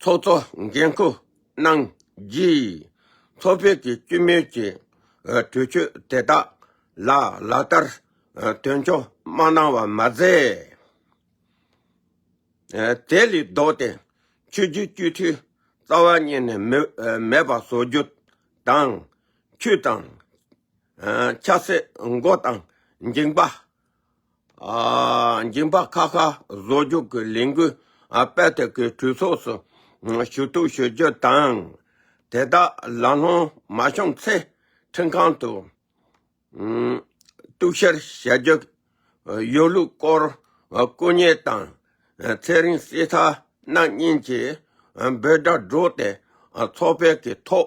ཚོགས་གཙོ་འགན་ཁུར་གནང་རྗེས་ཚོགས་ཕེབས་ཀྱི་བཅུད་མེད་ཀྱི་གྲོས་ཆོད་དེ་དག་ལ་ལག་བསྟར་དོན་འཁྱོལ་མ་གནང་བར་མ་ཟད། དེ་ལས་ལྡོག་སྟེ་ཆོས་རྒྱུད་སྤྱི་འཐུས་རྩ་བ་གཉིས་ནས་མེད་པ་བཟོ་རྒྱུ་དང། ཆོས་དང། ཆབ་སྲིད་མགོ་དང་འགྱིང་པ་འགྱིང་བག་ཁ་ཁ་བཟོ་རྒྱུག་གི་ལས་འགུལ་སྤེལ་ཐེབས་ཀྱི་གྲོས་ཚོགས་སུ་ཞུ་གཏུག་ཞུ་རྒྱུ་དང། དེ་དག་ལམ་ལྷོང་མ་བྱུང་ཚེ་ཁྲིམས་ཁང་དུ་གཏུག་བཤེར་བྱ་རྒྱུ་ཡོད་ལུགས་སྐོར་སྐུ་ཉེ་དང་ཚེ་རིང་བསྲེ་ཚ་རྣམ་གཉིས་ཀྱིས་འབོད་སྒྲ་སྒྲོག་སྟེ་ཚོགས་སྤེལ་གྱི་ཐོག་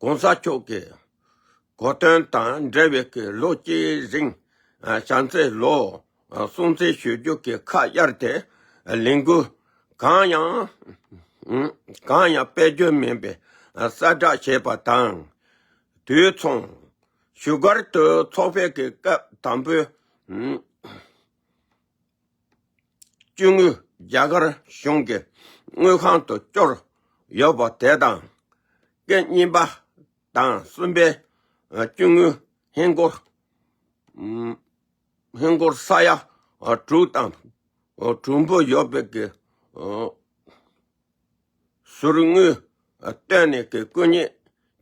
གོང་ས་མཆོག་གི་གོ་དོན་དང་འབྲེལ་བའི་ལོ་གཅིག་རིང་བྱམས་བརྩེ་ལོ་སྲུང་བརྩི་ཞུ་རྒྱུ་གི་ཁ་གཡར་ཏེ་ལས་འགུལ་གང་ཡང་སྤེལ་རྒྱུ་མིན་པའི་གསལ་བསྒྲགས་བྱས་པ་དང་དུས་མཚུངས། བཞུགས་སྒར་དུ་ཚོགས་ཕེབས་ཀྱི་སྐབས་དང་པོའི། བཅུ་དངུལ་རྒྱ་གར་གཞུང་གི་དངུལ་ཁང་དུ་བསྐྱོར་ཡོད་པ་དེ་དང། སྐད་གཉིས་པ་དང་གསུམ་པའི་བཅུ་དངུལ་ཧིན་སྒོར་ཧིན་སྒོར་ས་ཡ་དྲུག་དང་དྲུག་འབུལ་ཡོད་པའི་ཟུར་དངུལ་བཏོན་ནས་ཀྱི་སྐུ་ཉིད་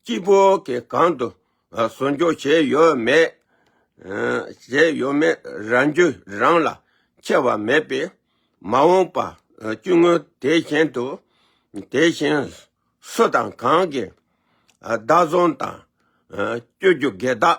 སྤྱི་བོ་ཀྱི་གང་དུ་ཟུར་འཇོག་བྱས་ཡོད་མེད་བྱས་ཡོད་མེད་རང་རྒྱུ་རང་ལ་ཁྱད་བར་མེད་པས་མ་འོངས་པ་བཅུ་དངུལ་དེ་བཞིན་དུ་དེ་བཞིན་སུ་དང་གང་གིས་བདག་བཟུང་དང་སྤྱོད་རྒྱུ་དགེ་རྟགས།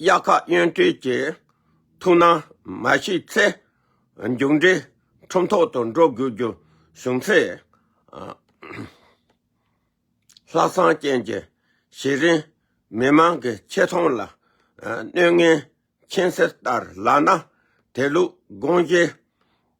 དབྱར་ཁ་གཡོན་སྤྲུལ་གྱི་ཐུགས་སྣང་མ་ཞིག་ཚེ་མཇུག་འགྲིལ་ཁྲོམ་ཐོག་ཏུ་འགྲོ་དགོས་རྒྱུ་བྱུང་ཚེ། ལྷག་བསམ་ཅན་གྱི་གཞི་རིམ་མི་མང་གི་ཆེ་མཐོང་ལ་སྣོད་ངན་མཁྱེན་གསལ་ལྟར་ལགས་ན་དེ་ལུགས་དགོངས་བཞེས་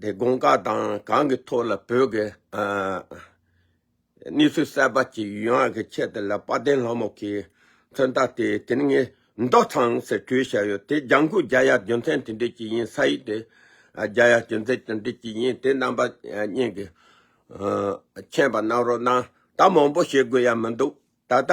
དེ་དགོངས་དག་དང་གང་གི་ཐོག་ལ་བོད་ཀྱི་གནས་ཚུལ་གསལ་བར་གྱི་ཡུལ་དབང་གི་ཆེད་དུ་ལ་དཔའ་བརྟན་ལྷ་མོ་གིས་མཚོན་རྟགས་དེ་དེ་ནི་ངའི་མདོག་དང་ཟེར་གྲོས་བྱས་ཡོད་དེ་ལྗང་ཁུ་རྒྱ་ཡག་རྒྱུ་མཚན་དེ་འདྲས་ཀྱི་ཡིན་ས་ཡིག་དེ་རྒྱ་ཡག་རྒྱུ་མཚན་དེ་འདྲས་ཀྱི་ཡིན་དེ་རྣམ་པ་གཉིས་ཀྱི་མཁྱེན་པ་གནང་རོགས་གནང་ད་མང་པོ་བཤད་དགོས་ཡ་མི་འདུག་ད་ལྟ།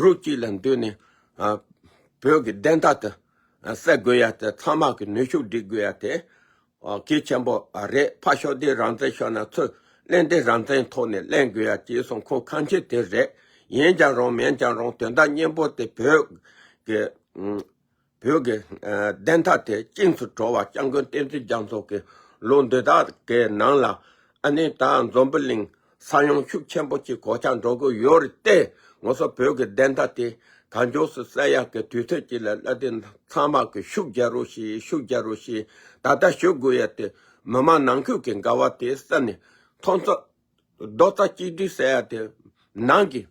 རུ་གཅིག་ལ་འདུས་ནས། བོད་ཀྱི་བདེན་མཐའ་དེ་གསལ་དགོས་ཡ་དེ་ཚང་མ་གི་ནུས་ཤུགས་བསྒྲིལ་དགོས་ཡ་དེ་གལ་ཆེན་པོ་རེད་ཕ་ཤོག་དེ་རང་བཙན་ཤོག་ན་ཚུར་གླེང་དེ་རང་བཙན་ཐོག་ནས་གླེང་དགོས་ཡ་ཅེས་གསུང་ཁོ་གང་མཁྱེན་དེ་རེད་ཡིན་ཀྱང་རུང་མེན་ཀྱང་རུང་དོན་དག་སྙན་པོ་དེ་བོད་ཀྱི། བོད་ཀྱི་བདེན་མཐའ་དེ་གཅིག་ཏུ་གྲོལ་བར་སྐྱབས་མགོན་བསྟན་འཛིན་རྒྱ་མཚོ་གིས་ལོ་འདི་དག་གི་ནང་ལ་ཨ་ནེ་ད་འཛོམས་པི་ལིང་ས་ཡོམ་ཤུགས་ཆེན་པོ་གཅིག་གོ་ཆ་འགྲོ་གི་ཡོད་རེད་དེ་ངོ་སོ་བོད་ཀྱི་བདེན་མཐའ་དེ་ད་མགྱོགས་སུ་གསལ་ཡག་གི་དུས་ཚོད་ཅིག་ལ་བསླབ་དེ་ཚང་མ་གི་ཤུགས་རྒྱ་རུ་ཞིག་ཤུགས་རྒྱ་རུ་ཞིག་ད་ལྟ་ཞུ་དགོས་ཡ་དེ་མི་མང་ནང་ཁུལ་གི་འགལ་བ་དེ་གསལ་ནས་ཐོག་མཚོ། རྡོག་རྩ་གཅིག་སྒྲིལ་ཟེར་ཡ་དེ་ནང་གི་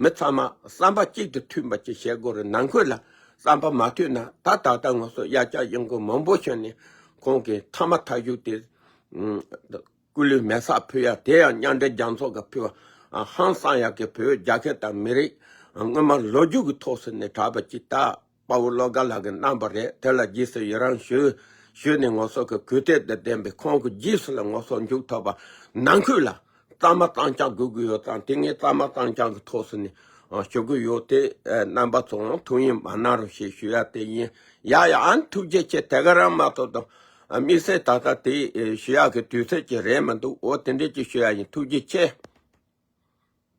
མི་ཚང་མ་བསམ་པ་གཅིག་ཏུ་མཐུན་པ་ཅིག་བྱེད་དགོས་རེད་ནང་ཁུལ་ལ་བསམ་པ་མ་མཐུན་ན་ད་ད་ལྟ་ངོ་སོ་གཡར་བསྐྱར་གཡོ་མགོ་མང་པོ་ཞིག་ནི་ཁོང་གི་མཐའ་མ་ཐག་གཞུག་དེ་སྐུ་ལུས་མེ་སར་ཕུལ་ཡ་དེ་ཡང་མཉམ་འབྲེལ་རྒྱང་ཚོགས་ཀྱི་ཕུལ་བ་ཧང་སང་ཡག་གི་བོད་རྒྱ་ཁེ་དང་མི་རིགས་དངོས་མ་ལོ་རྒྱུས་ཀྱི་ཐོག་སུ་ནས་གྲགས་པ་ཅིག་ད་དཔའ་བོ་བློ་དགའ་ལགས་ཀྱིས་གནང་བ་རེད་དེ་ལ་རྗེས་སུ་ཡི་རང་ཞུ། ཞུས་ནས་ངོ་སོ་གི་གུས་བརྟས་དང་ལྡན་པའི་ཁོང་གི་རྗེས་སུ་ལ་ངོ་སོ་མཇུག་ཐོགས་པ་ནང་ཁུལ་ལ་གཙང་མ་གཙང་རྐྱང་དགོས་ཀྱི་ཡོད་ཙང་དེ་ངས་གཙང་མ་གཙང་རྐྱང་གི་ཐོགས་སུ་ནས་ཞུ་གི་ཡོད་དེ། རྣམ་པ་ཚོ་འང་ཐུགས་ཡིད་མ་གནང་རོགས་ཞེས་ཞུ་ཡ་དེ་ཡིན། ཡ་ཡ་ཨཱ་ཐུགས་རྗེ་ཆེ་དེ་ག་རང་མ་ཐོབ་དང་དམིགས་བསལ་ད་ལྟ་དེ་ཞུ་ཡ་གི་དུས་ཚོད་ཅིག་རེད་མི་འདུག་འོ་དེ་འདྲས་ཅིག་ཞུ་ཡ་ཡིན་ཐུགས་རྗེ་ཆེ།